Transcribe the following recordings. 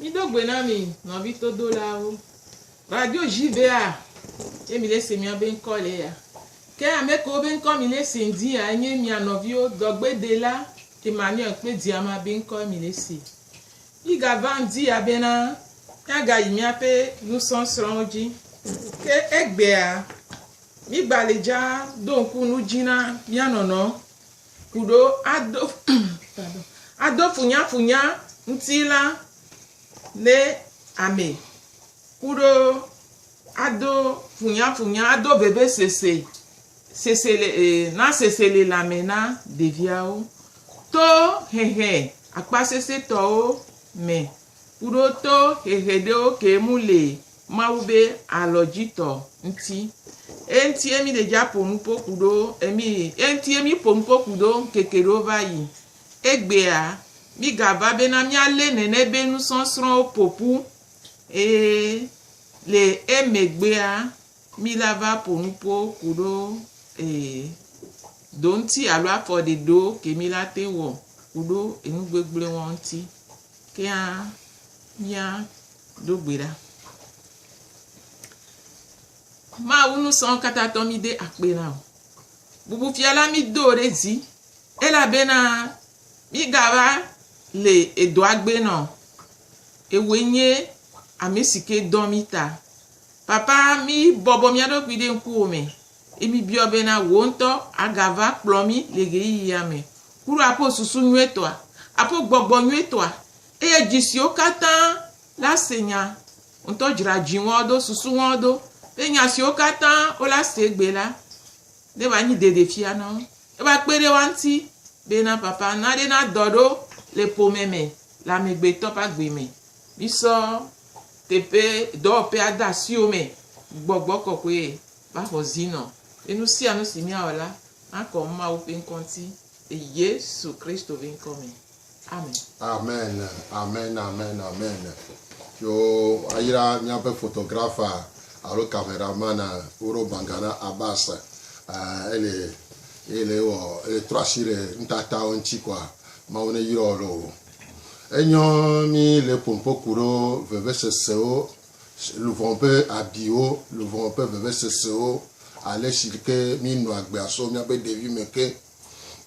Mido gbe na mi nɔvi todolawo. Radio JVA ye mi le se mia be ŋkɔ le ya. Ke ame kewo be ŋkɔ mi le se ŋdi ya enye mia nɔviwo dɔgbedela Emmanuel kple Diama be ŋkɔ mi le se. Mi ga va ŋdi ya be na mia ga yi mia ƒe nusɔsrɔwo dzi. Ke egbea mi gba le dza do ŋku nu dzi na mia nɔnɔ ku ɖo ado pardon ado funyafunya ŋuti la ne ame ku ɖo ado funyafunya ado vevesese sese le e na seselelãme na ɖeviawo to hehe akpasesẽtɔwo me ku ɖo to hehe ɖewo ke mu le Mawu be alɔdzitɔ ŋti. Eŋti ye mi ɖe dja po nupo kuɖo emi, eŋti ye mi po nupo kuɖo ŋkeke ɖewo va yi. Egbea, mi ga va be na mia le nene be nusɔsrɔwo popu, eye le emegbea mi la va po nupo kuɖo ee do ŋti alo afɔ ɖe ɖewo ke mi la te wɔ kuɖo enu gbegblẽ wɔ ŋti. Kea Mía ɖo gbe ɖa. Mawu nu sɔn kata tɔ mi de akpe na o. Bubu fia la mi do ɖe dzi. Ela be na mi gava le edo agbe nɔ. Ewoe nye ame si ke dɔ mi ta. Papa mi bɔbɔ mia ɖokui ɖe ŋkuwo me. Emi biɔ be na wò ŋutɔ agava kplɔ mi le ɣeyiɣi ya me. Kuro aƒo susu nyuie tɔa. Aƒo gbɔgbɔ nyuie tɔa. Eye dzi siwo katã la se nya ŋutɔ dzra dzi ŋɔ do, susu ŋɔ do, eye nya siwo katã wola se gbe la, ne va nyi dede fia na wo. Eva kpe ɖe woa ŋuti be na papa na ɖe na dɔ ɖo le ƒome me le amegbetɔ ƒe agbe me. Misɔ teƒe dɔwɔƒea de asi wo me. Gbɔgbɔ kɔkɔe va xɔ zi nɔ be nu sia nu si miawɔ la nakɔ Mawu ƒe ŋkɔ ŋuti le Yesu Kristo ƒe ŋkɔ me. Amen. Amen amen amen amen yo ayra miaƒe photographer alo camera man woro banga na abas eh, ele ele wɔ ele trɔ asi ɖe nutatawo ŋuti kɔa mawu ne yrɔ ɖe o enyɔ mi le pompoku ɖo vevesesewo luvɔ ƒe abiwo luvɔ ƒe vevesesewo ale si ke mi nɔ agbea so miaƒe ɖevi me ke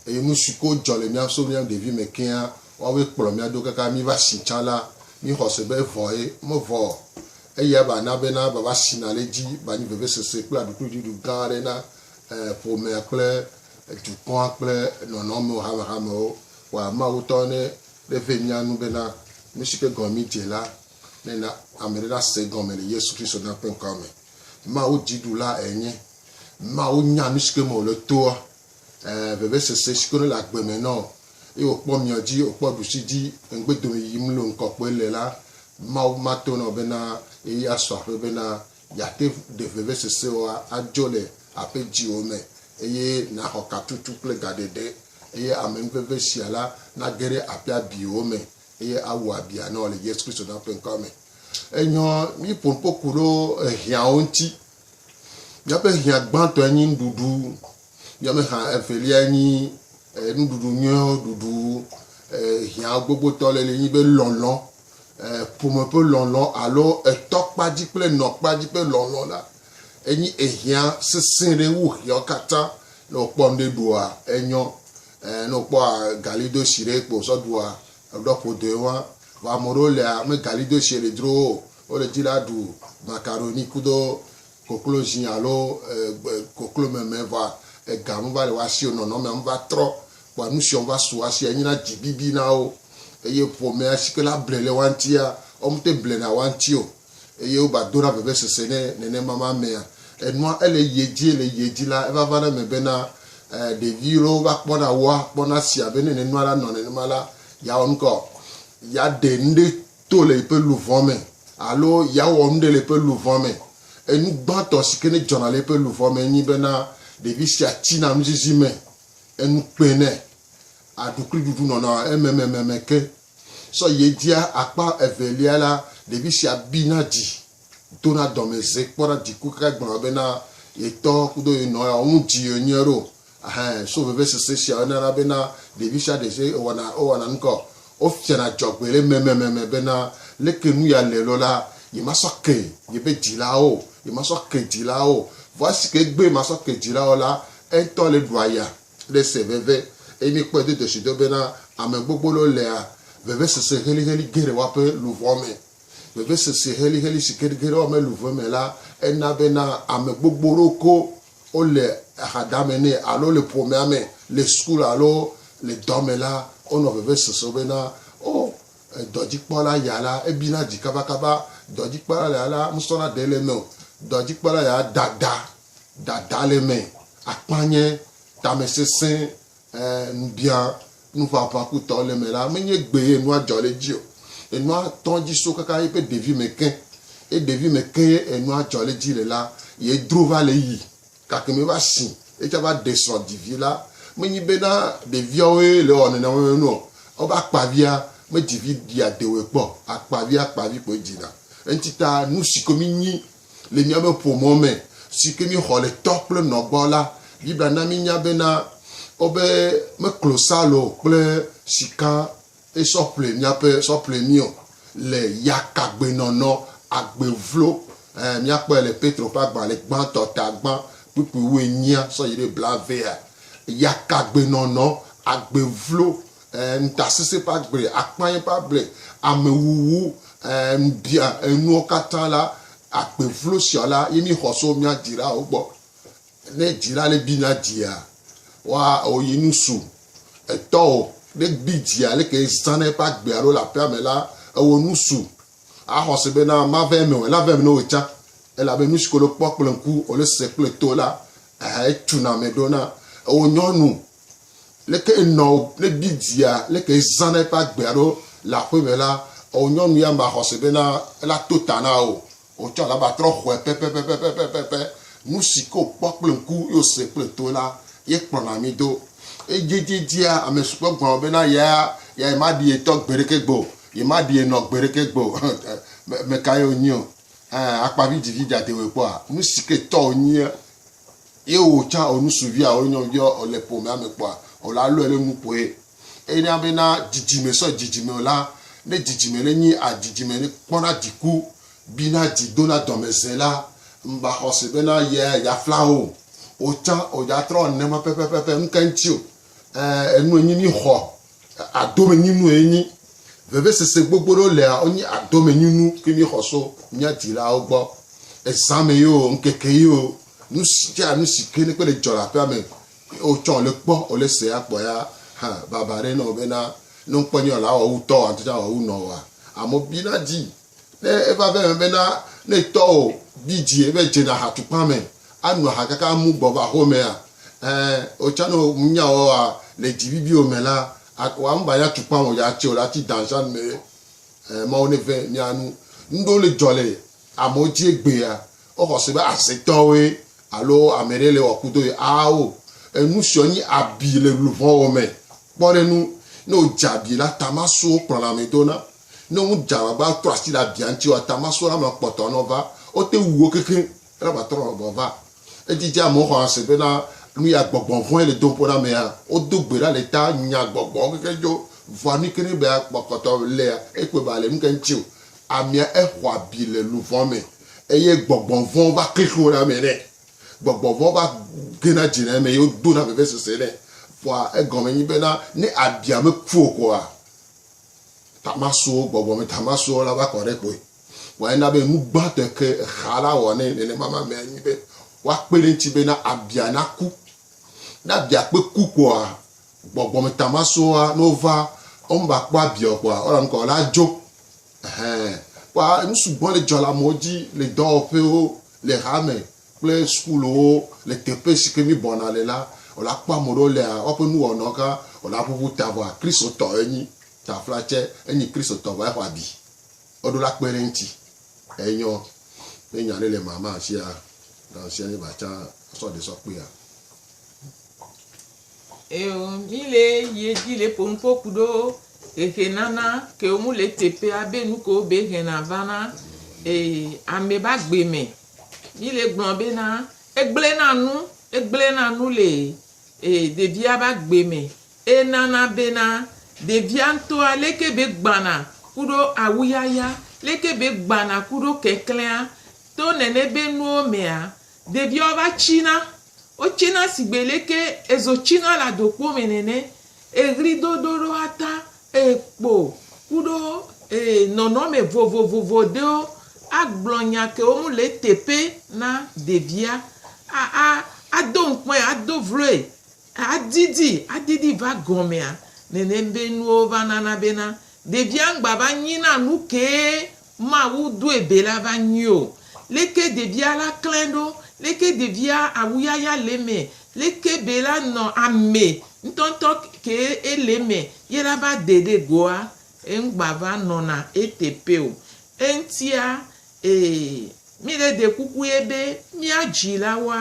Eye nu siwo ke dzɔ le mía so mía ɖevi me kea, woawoe kplɔ mía ɖo kaka míva si tsã la, míxɔ se be evɔe. Mevɔ o. Eyae va na bena vava si nale edzi va nyi vevesese kple aɖukliɖuɖu gã aɖe na ƒomea kple dukɔa kple nɔnɔmewo, hamehamewo. Wa Mawu ŋutɔ ne neve mía nu bena nu si ke gɔme míedze la, nena ame aɖe nase egɔme le Yesu Kristo na ƒe ŋkɔa me. Mawu dziɖula enye. Nua wonya nu si ke me wòle toa, ɛɛ, vevesese si ke wòle le agbe me na wo. Eye wòkpɔ mia dzi, wòkpɔ ɖusi dzi, ŋugbedomi yiyim loo ŋkɔ kpɔe le la, Mawu mato na wò bena ɣeyiɣi asu aƒe bena yeate ŋu ɖe vevesesewoa adzo le aƒe dziwò me eye nàxɔ katutu kple gaɖeɖe. Eye amenuveve sia la nage ɖe aƒea biwo me eye awu abia na wò le Yesu Kristo Nyaƒe ŋkɔa me. Enyɔ, míƒo nuƒo ku ɖo ehiãwo ŋuti. Míaƒe hiã gbãtɔe nye nuɖuɖu, míaƒe hiã eveliae nye nuɖuɖu nyuiwo ɖuɖu, hiã gbogbotɔ le li nye be lɔlɔ̃, ƒome ƒe lɔlɔ̃ alo etɔkpa dzi kple enɔkpa dzi ƒe lɔlɔ̃ la, enye ehiã sesẽ ɖe wu hiawo katã. Ne wòkpɔ ŋɖe ɖua, enyɔ, ne wòkpɔ galidoshi ɖe kpo wòsɔ ɖua, eɖɔ ƒodoe wan. Vɔa ame ɖewo lia, megalidoshiɛ le dzro wo o. Wole dzi la ɖu macaroni kudo koklozi alo koklo meme vɔa ega me va le woa sio nɔnɔmea me va trɔ kpɔa nusiɔ va su woa sia nyina dzi bibi na wo eye ƒomea sike la ble le woa ŋtia wo mete ble na woa ŋti o eye wo ba dona veve sese ne nenema ma mea enua ele yie dzi ele yie dzi la eva vana me be na ɖevi lo va kpɔna woa kpɔna sia be ne nenua la nɔ nenema la ya wɔ nuka o ya ɖe nuɖe to le eƒe luʋɔ me alo yeawɔ nu ɖe le eƒe luʋɔ me. Enu gbãtɔ si ke nedzɔna le eƒe luʋɔ me enye bena ɖevi sia tsina nuzizi me, enu kpẽ nɛ, aɖu kple ɖuɖu nɔna ememememe ke. Sɔ yi edzia akpa evelia la, ɖevi sia bina dzi, dona dɔmedze kpɔna diku kaka gblɔna bena ye tɔ kudo ye nɔ yawo ŋu dzi yewonye ɖo. Ɛhɛ̃, so vevesese siawo nana bena ɖevi sia ɖe si wɔna wowɔna nu ka o, wofiana dzɔgbee le memememe bena leke nu ya le loo la, yemasɔ ke yebe dzilawo o, yemasɔ ke dzilawo o. Vɔ esi ke egbee masɔ ke dzilawo o la, eŋutɔ le ɖua ya le ese veve. Eye míekpɔe do dzɔsido bena ame gbogbo loo lea vevesese heliheli ge ɖe woaƒe luʋɔ me. Vevesese heliheli si ge ɖe woaƒe luʋɔ me la, ena bena ame gbogbo loo ko wole ahadame nɛ alo wole ƒomea me, le sukulu alo le dɔ me la, wonɔ vevesese bena, O, dɔdzikpɔla ya la, ebina dzi kabakaba. Dɔdzikpɔla ya la, nusrɔ̃la ɖe le eme o. Dɔdzikpɔla ya, dada, dada le eme, akpanyɛ, tamesesẽ, Ẽ, nubia nuʋaʋã kutɔwo le eme la, menye gbeye enua dzɔ le edzi o. Enua tɔ edzi so kaka yeƒe ɖevime ke. Ye ɖevime ke ye enua dzɔ le edzi le la, ye dro va le eyi gake meva si ye tsã va ɖe srɔ̃ dzi vi la. Menyi bena ɖeviawoe le ewɔ nene wɔwɔ nu o. Wobe akpavia medzi vi ɖi adewoe kpɔ o. Akpavia akpavi koe dzina. Eŋuti ta, nu si koe mínyi Le míaƒe ƒomea me si ke míexɔ le tɔ kple nɔ gbɔ la, Biblia na míenya bena, wobe, Me klosalo kple sika sɔ ƒle míaƒe sɔ ƒle mí o le yakagbenɔnɔ, agbe vlo. Ɛɛ, míakpɔe le Petro ƒe agbalẽ gbãtɔ ta gbã kpukpui wuienyia sɔ yi ɖe blaevea. Yakagbenɔnɔ, agbe vlo e, ŋutasesẽ ƒe agble, akpanya ƒe agble, amewuwu, e, ŋubia, enuwo katã la, agbe vlo sia la ye míexɔ so mía dzilawo gbɔ. Ne dzila le gbi na dzia, wa o yi nu su. Etɔ o ne gbi dzia le ke zã na eƒe agbe alo le aƒea me la, ewɔ nu su. Axɔ se be na mave eme o, la ve eme na wò tsã. Elabe nu si ko le kpɔ kple ŋku, wòle se kple to la, e, etuna ame ɖona. Ewɔ nyɔnu Leke nɔ ne bidzia leke zã na eƒe agbe alo le aƒe me la, o nyɔnu ya ma xɔse be na ela to ta na o. O tsɔ alaba trɔ xɔe pɛpɛpɛpɛpɛpɛpɛ. Nu si ke o kpɔ kple ŋku ye o se kple to la ye kplɔna mi do. Edziedzedzea ame si kpɔ gɔme be na ya ya ye ma ɖi ye tɔ gbeɖeke gbe o, ye ma ɖi ye nɔ gbeɖeke gbe o. Me ka ye o nyi o? Ɛ, akpa vidzivi dzadewoe kpɔa? Nu si ke tɔ o nyi ye Ye wò tsã wò nusuvia wò nyɔnuvia wò le ƒomea me kpɔa, wò la lɔe ɖe nu kpɔe. Eye na be na dzidzime sɔ dzidzime wò la, ne dzidzime ɖe nyi a dzidzime ɖe kpɔna dziku, bina dzi dona dɔmeze la, mba xɔ se be na ye ya fla wo o. Wò tsã wò dza trɔ nene ma pɛpɛpɛpɛ ŋke ŋtsi o. Ẽ, enu enyi mí xɔ. Adomenyinu ye nyi vevesese gbogbo ɖewo lea wonye adomenyinu ke mi xɔ so mia dzilawo gbɔ. Ezã me yio, ŋkeke yio, nusi dza nusi ke ne kpe le dzɔ le aƒea me wotsɔ wole kpɔ wole se ya kpɔ ya hã baba ɖe nɔ bena ne ŋkpɔ nye wɔ la awɔ wu tɔwoa ŋtɔ tsa awɔ wu nɔwoa. Amewo bi na dzi Ne eva ve me bena ne tɔwò bi dzi ebe dze na aha tukpa me, anu aha kaka amu gbɔ va ho mea, ẽ, otsã ne wò nya wò wa le dzi bibi wò me la, ak, wa ŋba nya tukpa wò ya tse o la ti danzan me. Ẽ, Mawu ne ve mia nu. Nuɖewo le dzɔ le amewo dzi egbea, wo xɔ se be aze tɔwoe alo ameɖe le wɔ kudo ye awo. Enu siɔ nyi abi le luʋɔwò me. Kpɔ ɖe nu, ne wò dze abi la, tamasowo kplɔna ame dona. Ne ŋu dza va va trɔ asi le abia ŋuti oa, tamasɔla ma kpɔtɔ nɔ va, wo te wu wo kekeŋ ela va trɔ nɔ va va. Edzi dze amewo xɔa se bena nu ya gbɔgbɔ vɔ̃e le dom ƒo na amea. Wo do gbe ɖa le ta nya gbɔgbɔwo kekeŋ dzo vɔa nu yike ne be ya kpɔkɔtɔ lea, ekpɔe be ale nuka ŋuti o. Amea exɔ abi le nu vɔ̃ me eye gbɔgbɔ vɔ̃ va kli xloo na ame nɛ. Gbɔgbɔ vɔ̃ va gena dzi na eme eye wo do na vevesese nɛ. Vɔa egɔme nyi bena ne abia me ku o kɔa, Tamasuo, gbɔgbɔ me tamasuo la va kɔ ɖe kpoe. Vɔ ena be nu gbãtɔe ke exa la wɔ nɛ nenema mamea nyi be woakpe ɖe eŋuti bena abia naku. Ne abia kpe ku kpoa, gbɔgbɔ me tamasuoa, ne wova, womeva kpɔ abia o kpoa, wola nukɔ la dzo. Ɛhɛɛ. Kpɔa, nu sugbɔ le dzɔ le amewo dzi le dɔwɔƒewo, le hame, kple sukulowo le teƒe si ke mi bɔna le la, o la kpɔ ame ɖewo lea, woaƒe nu wɔnɔ ka o la ƒuƒu ta vɔa Kristo tɔ enyi. Ta fla tse enyi Kristo tɔ vɔa exɔ abi. O ɖo la kpe ɖe ŋti. Enyɔ be nya ɖe le ma ma sia na sia ne va tsa sɔ ɖe sɔ kpea. Eo mi le ye dzi le ƒo ŋkɔ ku ɖo hehe nana ke o mu le teƒea be nu ke o be hena vana e ame ba gbe me Mile gblɔm be na egblẽ na nu, egblẽ na nu le ɖevia be agbe me, eye nana be na ɖevia ŋutɔa leke be gbana kuɖo awuyaya, leke be gbana kuɖo keklẽa, to nene be nuwo mea, ɖeviawo va tsina. Wotsena sigbe leke ezo tsina le adokpo me nene, eɣli do ɖo ɖo ata eye kpo kuɖo ee nɔnɔme vovovovo ɖewo agblɔ nya kewo ŋu le eteƒe na ɖevia. A, a, ado ŋkɔe, ado vloe, adidi, adidi va gɔmea. Nene be nuwo va nana bena ɖevia ŋgba va nyina nukee Mawu doe be la va nyui o. Leke ɖevia la klẽ ɖo? Leke ɖevia awuyaya le eme? Leke be la nɔ ame ŋutɔŋutɔ ke ele eme ye la va de ɖe goa? Eŋgba va nɔna eteƒe o. Eŋtia, ee, mi le ɖe kuku ye be mía dzilawoa,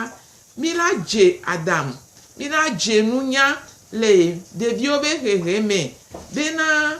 mi la dze Adam, mi la dze nunya le ɖeviwo be hehe me bena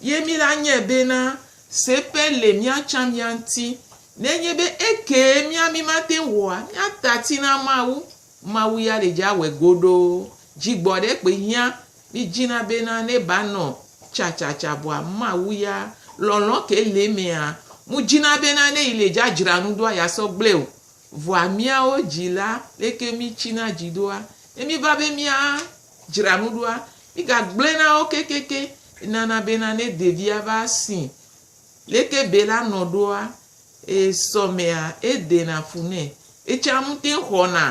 Ye mí la nyae bena, seƒe le mía tsã mía ŋuti. Nenye be ekee mía mí mate ŋu wɔa, míata ati na Mawu, Mawu ya ɖe dze awɔe godoo. Dzigbɔɖekpe hiã mí dzina bena ne ba nɔ tsatsatsã vɔa, Mawu ya, lɔlɔ̃ ke le emea, mu dzina bena ne yi le dzadzra nu doa ya sɔ gblẽ o. Vɔa míawo dzi la, leke mí tsina dzi doa? Ne mí va be mía Dzra nu ɖoa, migagblɔe na wo kekeake. Nana bena ne ɖevia va si leke Bela nɔ ɖoa, esɔmea edena fu nɛ. Etsã ŋutɛŋ xɔna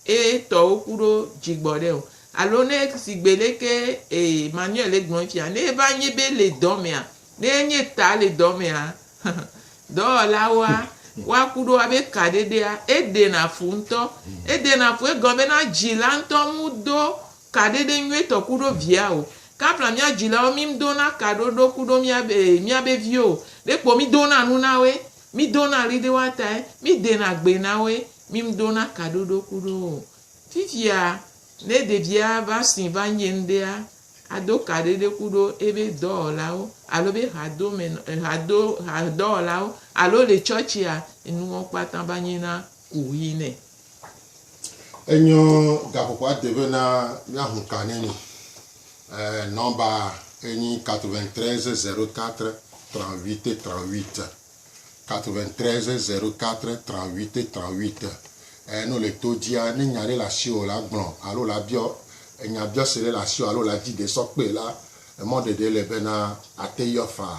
etɔwo ku ɖo dzigbɔɖe o. Alo ne sigbe leke Emmanuel gblɔe fia, ne eva nyi be le dɔmea, Ne enye ta le dɔ mea, dɔwɔlawoa, woaku ɖo abe ka ɖeɖea, eɖena fu ŋutɔ. Eɖena fu egɔme bena dzila ŋutɔ mudo ka ɖeɖe nyuietɔ ku ɖo via o. Kapla mía dzilawo mi ŋdo na ka ɖo ɖo ku ɖo mía be mía be viwo o. Ɖe kpo mi dona nu na woe, mi dona ɣli ɖe woa tae, mi dena gbe na woe, mi ŋdo na ka ɖo ɖo ku ɖo wo o. Fifia ne ɖevia va si va nye ŋɖea, Ado kaɖiɖeku ɖo ebe dɔwɔlawo alo be hadome nɔ, hado, hadɔwɔlawo alo le tsɔtsia, enuwo kpata va nyi na ku ɣi nɛ. Enyɔ gaƒoƒo ade ve na mia hu ka nɛ mi. E nɔmba enyi quatre-vingt-treize zero quatre trente-huit trente-huit. 93 004 38 38 Eye ne wòle to dzia, ne nya ɖe le asiwò la gblɔ alo la biɔ enya biɔse ɖe le asiwò alo la dzi ɖe sɔ kpee la, emɔ ɖeɖe le bena ate yɔ fa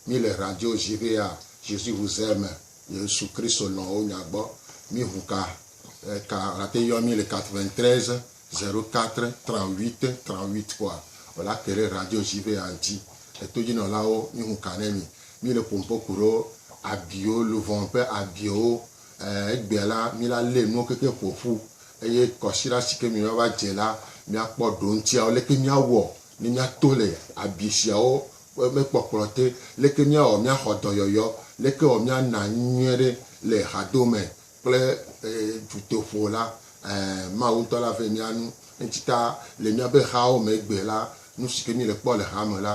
mí le radio J'irai à Jésus vous aime, Yesu Kristo lɔ̃ wò nya gbɔ. Mí ŋu ka ka wòla te yɔ mí le 93 004 38 38 kpɔa wòla ke ɖe radio J'irai à ŋuti. Etodzinɔlawo, mí ŋu ka ne mi. Mi le ƒompɔ kuɖo abiwo, luvɔn ƒe abiwo, e, egbea la, mi la lé nuwo kekeŋ ƒoƒu, eye kɔsiɖa si ke mi va va dze la, mia kpɔ ɖoŋtia, leke mia wɔ ne mia to le abi siawo ƒe me kpɔkplɔ te, leke mia wɔ mia xɔ dɔyɔyɔ, leke wɔ mia na nu nyuie ɖe le hadome kple, e, dutoƒo la, ɛ, Mawu ŋutɔ la ve mia nu. Eŋtsi ta, le miabe hawo me egbea la, nu si ke mi le kpɔ le hame la,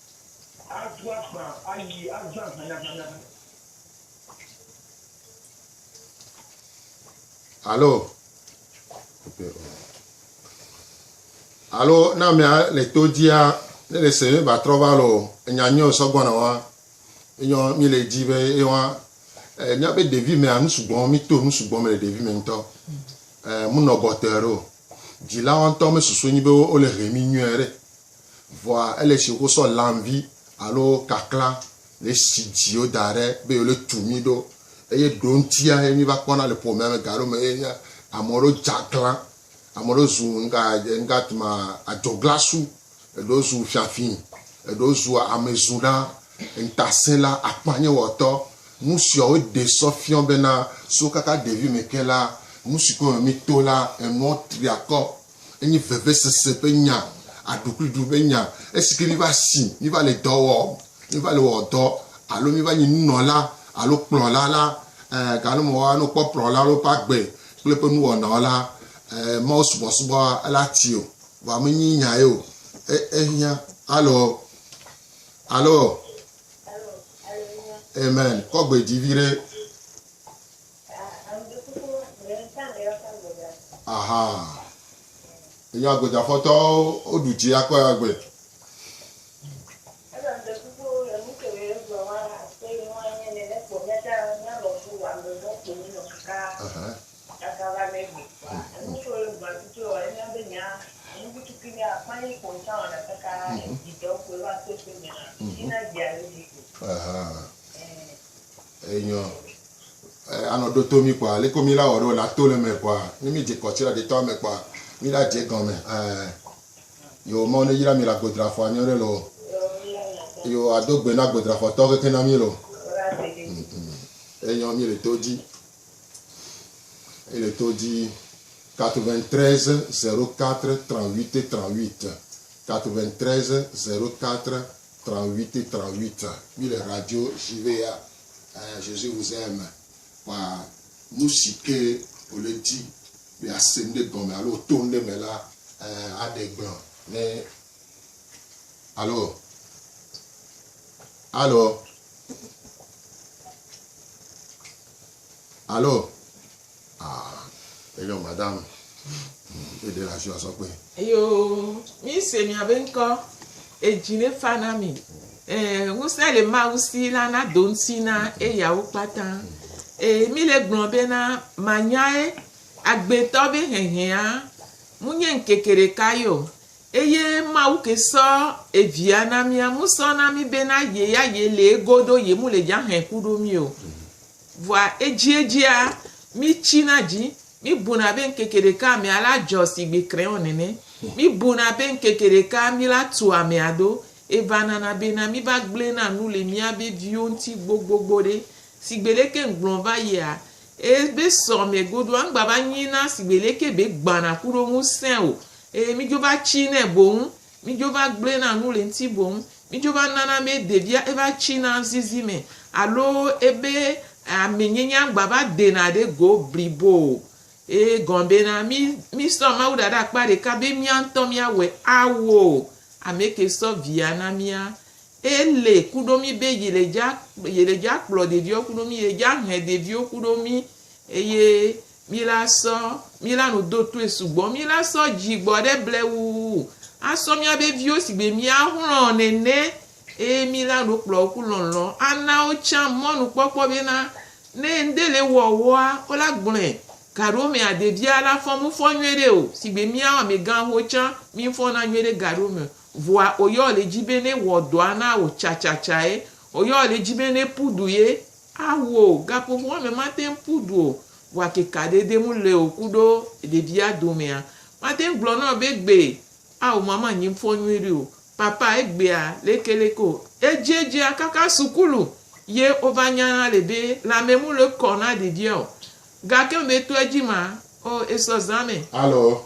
Atu akpa ayi azã hanyahanya. Alo. Alo na mea le to dzia ne le se mi ba trɔ va lo enya nyɔ sɔgbɔna wa. Enyɔ mi le dzi be ewa e, mía be ɖevi mea nu sugbɔ mi to nu sugbɔ me le ɖevi me ŋutɔ. E, munɔ gɔtɔe ɖo. Dzilawo ŋutɔ me susu nyi be wo le he mi nyuie ɖe. Vɔa ele si woko sɔ lanvi alo kakla le si dzi woda ɖe be yewole tu mí ɖo. Eye ɖoŋtia ye mí va kpɔna le ƒomea me gaɖewo me ye nye ame aɖewo dze aglã, ame aɖewo zu nuka nuka ti ma adzɔglasu, eɖewo zu fiafi, eɖewo zu amezuɖa, ŋutasẽla, akpanyewɔtɔ. Nu siawo ɖee sɔ fiɔ bena so kaka ɖevime ke la, nu si ko me míto la, enuawo tri akɔ. Enye vevesese ƒe nya, aɖukliɖu ƒe nya. Esi ke míva si, míva le dɔ wɔm, míva le wɔ dɔ alo míva nyi nunɔla alo kplɔla la, ẽ, gake ne wòava ne wokpɔ kplɔla alo woƒe agbe kple eƒe nuwɔnawo la, ẽ, Mawu subɔsubɔ la ti o. Vɔa menye nya ye o. E, ehiã. Alo? Alo? Amen. Kɔ gbe dzi viɖe. aha enye agbede afɔtɔwo woɖu dzi akɔ ya gbe Aha. Aha. Enyɔ. Eh, anɔ ɖo to mi kpɔa, leke mi la wɔ ɖo la to le me kpɔa, ne mi dze kɔtsi la ɖe tɔ me kpɔa, mi la dze gɔme. Eh, yo mɔ ne yira mi la godrafɔ anyɔ ɖe lo. Yo ado gbe na godrafɔ tɔ keke na mi lo. Mm, mm. Enyɔ mi le to dzi. Il est au dit 93 04 38 38. 93 04 38 38 Mi le radio JW ya eh, Jésus vous aime Kpa nu si ke wòle di be ase ŋɖe gɔme alo wòto ŋɖe me la eh, aɖe gblɔ ne Alo Alo Alo, Ah, enyɔ madam. Eɖe le asi asɔ kpe. Yoo, mi se mia be ŋkɔ, edzi ne fa na mi. Ee, ŋusẽ le Mawu si la na do ŋuti na eyawo kpata. Ee, mi le gblɔ be na manyae agbetɔ be hehea mu nye ŋkeke ɖeka ye o. Eye Mawu ke sɔ Evia na mia, mu sɔ na mi be na ye ya ye le ego ɖo ye mu le dza hẽ ku ɖo mi o. Vɔa edziedzia, mí tsina dzi, mí buna be ŋkeke ɖeka mea la dzɔ sigbe krɛɔ nɛnɛ. Mí buna be ŋkeke ɖeka mí la tu amea do. Eva nana be na mí va gblɔe na nu le mía be viwo ŋuti gbogbogbo ɖe. Sigbe leke ŋgblɔ va yia, e be sɔ mɛ godoa ŋgba va nyi na sigbe leke be gbana kuɖo ŋusẽ o. Eye mí dzo va tsi nɛ boŋ Midzo va gblɔe na nu le ŋuti boŋ. Midzo va nana be ɖevia eva tsina zizi me alo ebe amenyenya gbava dena ɖe go blibo o. Ee, gɔ̃ bena mí, mísɔ Mawu da ɖe akpa ɖeka be mía ŋutɔ míawɔe awo o. Ameke sɔ Via na mía. Ele ku ɖo mí be yele dza, yele dza kplɔ ɖeviawo ku ɖo mí, yele dza he ɖeviwo ku ɖo mí eye Mi la sɔ, mi la nu do toe sugbɔ, mi la sɔ dzi gbɔ ɖe ble wuwu, a sɔ mia be viwo si gbe mia hlɔ̃ nene, eye mi la nu kplɔ woku lɔlɔ̃ a na wo tsã mɔnu kpɔkpɔ be na ne ŋde le wɔ wɔa, wo la gblɔe. Gaɖewo me a ɖevia la fɔ mu fɔ nyuiɖe o, si gbe miawo ame gã ho tsã mi ŋfɔ na nyuiɖe gaɖewo me o. Vɔa o yɔ le dzi be ne wɔ dɔa na wo tsatsatsaae, o yɔ le dzi be ne pu du ye. Awu o, gaƒoƒo ame mate ŋu ƒu du o, vɔa keka ɖe de mu le o kuɖo ɖevia domea. Mate ŋu gblɔ na wò be egbe, ao ma manyi ŋfɔ nyui ɖi o. Papa, egbea lekeleke o. Edziedzea kaka sukulu ye wova nyana le be lãme mu le kɔ na ɖevia o. Gake mebe tɔa edzi ma, o esɔ zã me. Alo,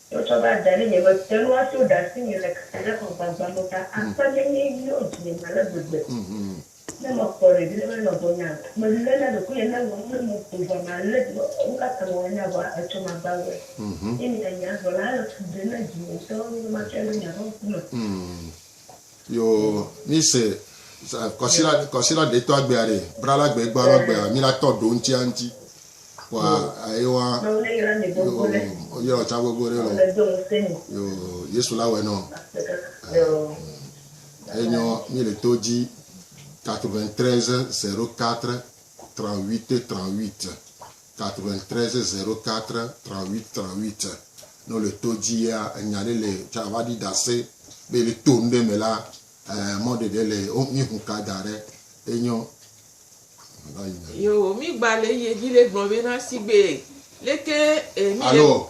Tsɔtsɔ va da ɖi nye mete ŋu ato ɖasinye le kafuɖeƒe gbagba me ta akpe ne nye yɔ dzinye me ale gbegbe ne mekpɔ ɖevi ɖe menɔ gbɔnyea? Melé na ɖokuinye ne ŋlɔm ɖe mo ƒo ʋua me ale be nu ka ta mewɔ nya vɔa etsɔ magba wɔe. Nye mianyi azɔ la, ele fu ɖem na dzinye ŋutɔ be matsɔe ɖo nye aƒe ŋkume. Yo mi se kɔsila kɔsila ɖe tɔ agbea ɖe bra la gbe gba lɔ gbea mi la tɔ ɖo ŋti a ŋti wa ayi wa yo yɔ tsa gbogbo ɖe lɔ yo yesu la wɛ nɔ enyɔ mi le to dzi 93 04 38 38 93 04 38 38 Ne wòle to dzi ya, enya ɖe le tsã va ɖi dasɛ be le to nu ɖe me la, ɛɛ mɔ ɖeɖe le wo mi hu ka da ɖe enyɔ. Yo, mi gba le yi edzi le gblɔ be na sigbe leke e mi. Alo,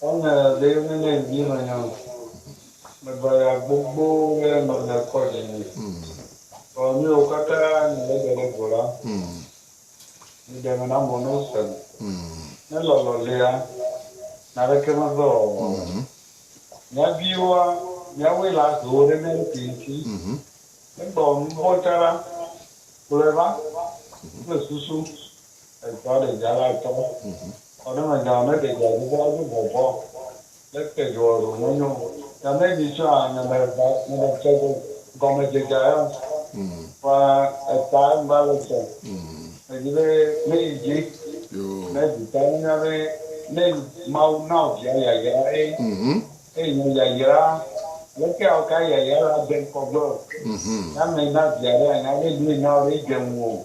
Wonye ɖe menye ŋdi menye o me baya gbogbo ɖe me me kɔ dzi nyi vɔ mi wo kata mi le de ɖe go la mi de me na mɔ no sem ne lɔlɔ lia na ɖe ke me ve ɔ ɔ mia vi woa mia woe la zo wo ɖe mia ɖo ki ŋti ne gba wɔ nu vɔ ca la kplɔe va kple susu. Etsɔa ɖedzia la tsɔ kɔ ɖe eme zã ne ɖedzia dzi be woado vɔvɔ ɖe te dzi o ɖo menyo o. Gake ne edzi tsɔa ame ɖe va ame ɖe tsɔ ɖe gɔme dzedzia ya kɔa eta ŋgba le tsɔ edzi be ne yi dzi ne dzi ta ne nya be ne mawu na wo via yayra ye eye nya yayra leke awo ka yayra la de ŋkɔ gbe o ne ame na via ɖe anya be nu yi na wo ɖe yi dze ŋu o.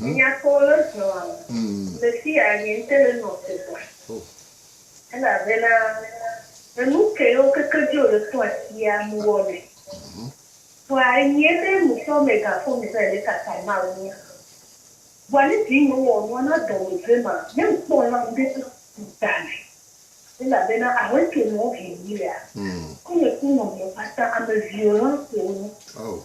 Nye nya kpɔ wo le zɔ a me. Le fiya nye ŋte le nɔ te gba. Elabena enu ke yo keke dzi o le tɔ asia mu wɔ me. Vɔa enyɛ be mu tɔ me gan fɔ mi zan le kaka Mawu nu. Vɔa ne dzi nyɔ wɔ nua na dɔ me ve ma, ne ŋ kpɔ la ŋ de to ga me. Elabena ahɔɛ ke nɔ vi mi lea, ku nye ku nɔ mi kpata ame vio la ko wo.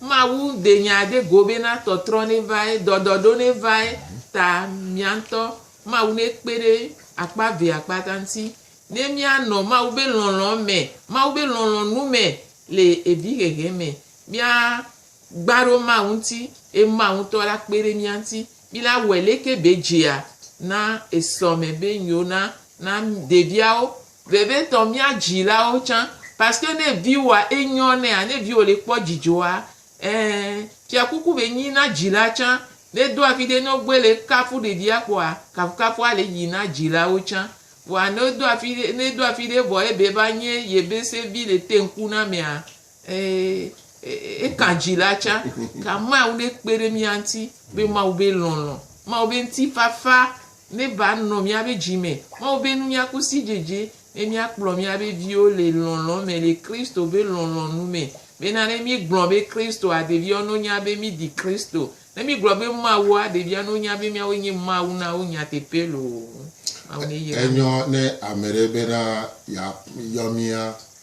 Mawu de nya ɖe go bena tɔtrɔ nevae, dɔdɔɖo nevae ta mía ŋutɔ Mawu nekpe ɖe akpa eve akpata ŋuti. Ne míanɔ Mawu be lɔlɔ̃ me, Mawu be lɔlɔ̃nu me le evi hehe me, mía gba ɖo Mawu ŋuti eye Mawu ŋutɔ la kpe ɖe mía ŋuti. Mi la wɔe leke be dzea na esɔ me be nyo na na ɖeviawo Vevitɔ mía dzilawo tsã paske ne viwoa enyɔ nɛa ne viwo le kpɔ dzidzɔa ee fiakuku be nyi na dzila tsã ne do afi ɖe ne wogbe le kafu ɖevia kpɔa kafukafua le yi na dzilawo tsã vɔa ne do afi ɖe ne do afi ɖe vɔ ebe va nye yebese vi le teŋkunamea Eka dzi la tsã, ka Mawu ne kpe ɖe mía ŋuti be Mawu be lɔlɔ̃, Mawu be ŋutifafa ne va nɔ mía be dzi me, Mawu be nunya ku sidzedze ne mía kplɔ mía be viwo le lɔlɔ̃ me le Kristo be lɔlɔ̃ nu me. Bena ne mí gblɔ be Kristoa ɖeviwo no nya be mí di Kristo, ne mí gblɔ be Mawua ɖeviwo no nya be míawoe nye Mawu na wo nyateƒe loo. Mawu ne yra mí. Enyɔ ne ame ɖe bena ya yɔ mía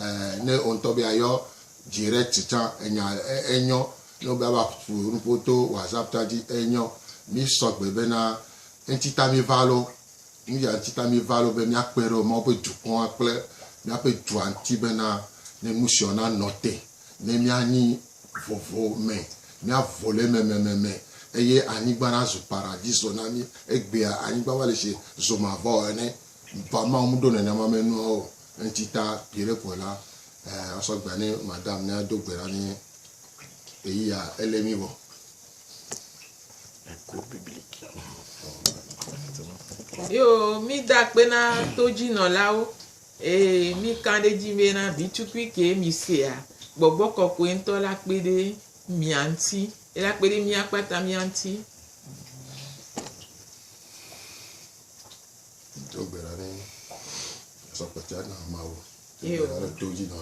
Ɛɛ, ne wò ŋutɔ be yeayɔ direct tsã, enya enyɔ. Ne wobe ava ƒo nuƒo to WhatsApp tsã dzi, enyɔ. Mísɔ gbe bena, Ŋutita mí va loo. Nu ya ŋutita mí va loo be míakpe ɖe Mawu ƒe dukɔa kple míaƒe dua ŋuti bena ne nu siawo nanɔ te, ne míanyi vovo me, míavo le eme mememe eye anyigba nazu paradiso na mí. Egbea anyigba va le sie zomavɔ ene. Vamao meɖo nenema me nuawo o. Eŋti ta ʋi ɖe kpoe la, eh, asɔ gbea ne madam ne ado gbe ɖa ne eyi ya ele mi wɔ. Eko biblik. Yo, mi da kpe na to dzi nɔ la wo. Ee, mi kan ɖe dzi be na bi tukui ke mi sea, gbɔgbɔ kɔkɔe ŋutɔ la kpe ɖe mia ŋuti. Ela kpe ɖe mia kpata mia ŋuti.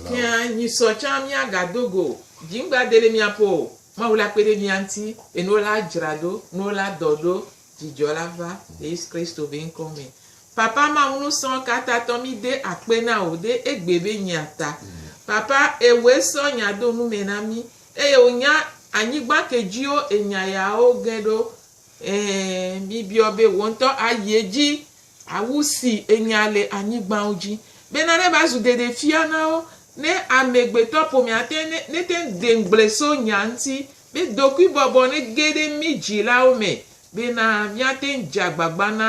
Fia nyisɔ tsã míagado go o. Dziŋgba deli miaƒo o. Mawu la kpe ɖe mia ŋuti. Enuwo la dzra ɖo. Nuwo la dɔ ɖo. Dzidzɔ la va le Yesu Kristo be ŋkɔ me. Papa Mawu nusrɔ kata tɔ mi de akpe na wò de egbe be nyia ta. Papa ewoe srɔ nya do nume na mi eye wonya anyigba ke djiwo enya yawo ge ɖo. Ɛ̃, mibiɔ be wò ŋutɔ ayi edzi awu si ènya le anyigbawo dzi, bena neva zu ɖeɖefia na wo, ne amegbetɔƒomea te ne nete ŋu de ŋugble so nya ŋuti, be dokuibɔbɔ nege ɖe mí dzilawo me, bena míate ŋu dze agbagba na